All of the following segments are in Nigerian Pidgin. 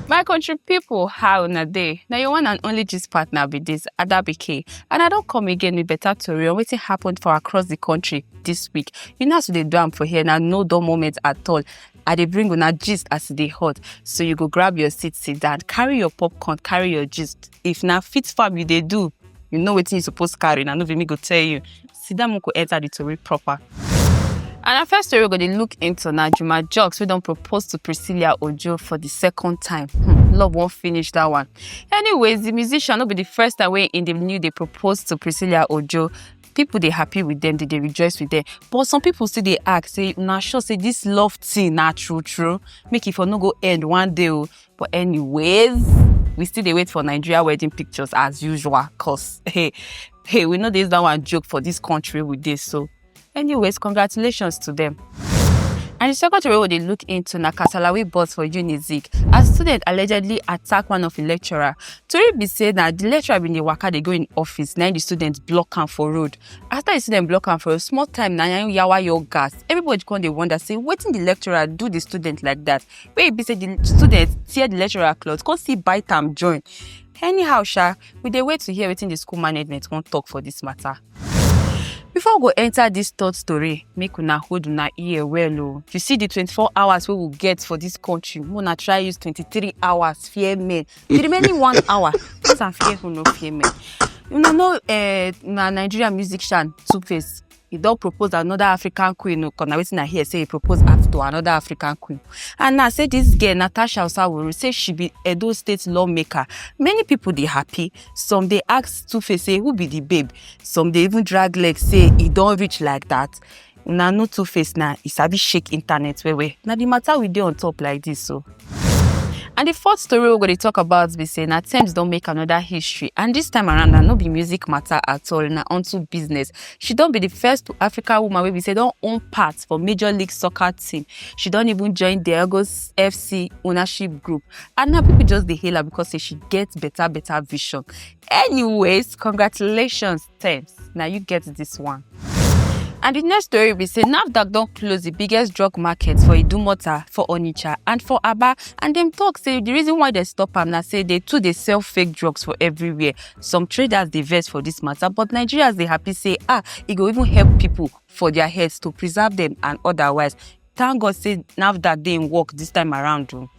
My country people, how na day? Now your one and only gist partner be this Adabike, and I don't come again with better story on wetin happened for across the country this week. You know as we dey do am for here na no dull moment at all. I dey bring una gist as e dey hot, so you go grab your seat, sit down, carry your popcorn, carry your gist. If na fit farm you dey do, You know wetin you suppose carry na no be me go tell you. Sit down make we enter the tori proper. And our first story we go dey look into na Juma Jux wey don propose to Priscilla Ojo for the second time. Hmm, love wan finish that one. Anyways, the musician no be the first time wey in the new dey propose to Priscilla Ojo. People dey happy with them, they dey rejoice with them. But some people still dey ask say una sure say this love thing na true true? Make e for no go end one day o. But anyways, we still dey wait for Nigeria wedding pictures as usual cause hey, hey, we know this that one joke for this country with this so. Anyways, congratulations to them. And the second story we dey look into na kasala wey burst for Unizik as student allegedly attack one of im lecturer. Tori be say na the lecturer bin dey waka dey go im office na im the student block am for road. After the student block am for road, small time na im yawa yaw gas. Everybody come dey wonder say wetin the lecturer do the student like that. wey e be say di students tear di lecturer cloth come still bite am join anyhow sha we dey wait to hear wetin di school management wan talk for dis matter before we go enter dis third story make una hold una ear well o if you see di twenty-four hours wey we get for dis country make una try use twenty-three hours fear men di remaining one hour use am fear who no fear men una know eh, na nigeria musician two face e don propose another african queen o cause na wetin i hear say e propose act to another african queen and now say this girl natasha osawuru say she be edo state lawmaker many people dey happy some dey ask tufe say who be the babe some dey even drag leg say e don reach like that una know two face na e sabi shake internet well well na the matter we dey on top like this o. And the fourth story we're going to talk about be say na Tems don make another history and this time around na no be music matter at all na onto business. She don be the first African woman wey be say don own part for Major League Soccer team. She don even join Diegos FC ownership group and now people just dey hail her because say she get better better vision. Anyways, congratulations Thanks. Now you get this one. And the next story we say NAFDAC don't close the biggest drug market for Idumota, for Onitsha and for Aba and them talk say the reason why they stop am now say they too they sell fake drugs for everywhere. Some traders they vex for this matter but Nigerians they happy say ah it e go even help people for their heads to preserve them and otherwise Thank God say NAFDAC dey in work this time around o.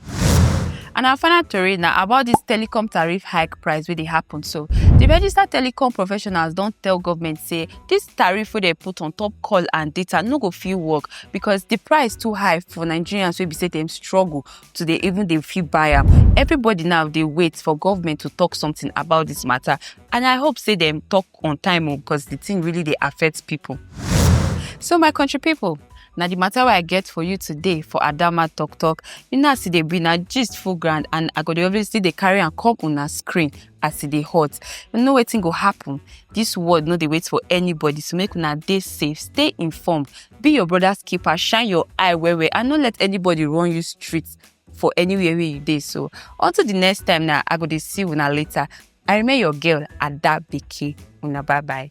And our final tori na about this telecom tariff hike price wey dey happen so. The registered telecom professionals don tell government say this tariff wey dem put on top call and data no go fit work because the price too high for Nigerians wey be say dem struggle to dey even dey fit buy am. Everybody now dey wait for government to talk something about this matter and I hope say dem talk on time o because the thing really dey affect people. So my country people, na the matter wey i get for you today for adama talk talk you know as e dey be na gist full ground and i go dey always still dey carry am come una screen as e dey hot you know wetin go happen this world no dey wait for anybody so make una dey safe stay informed be your brother's keeper shine your eye well well and no let anybody run you street for anywhere wey you dey so until the next time na i go dey see una later i remain your girl ada beke una bye bye.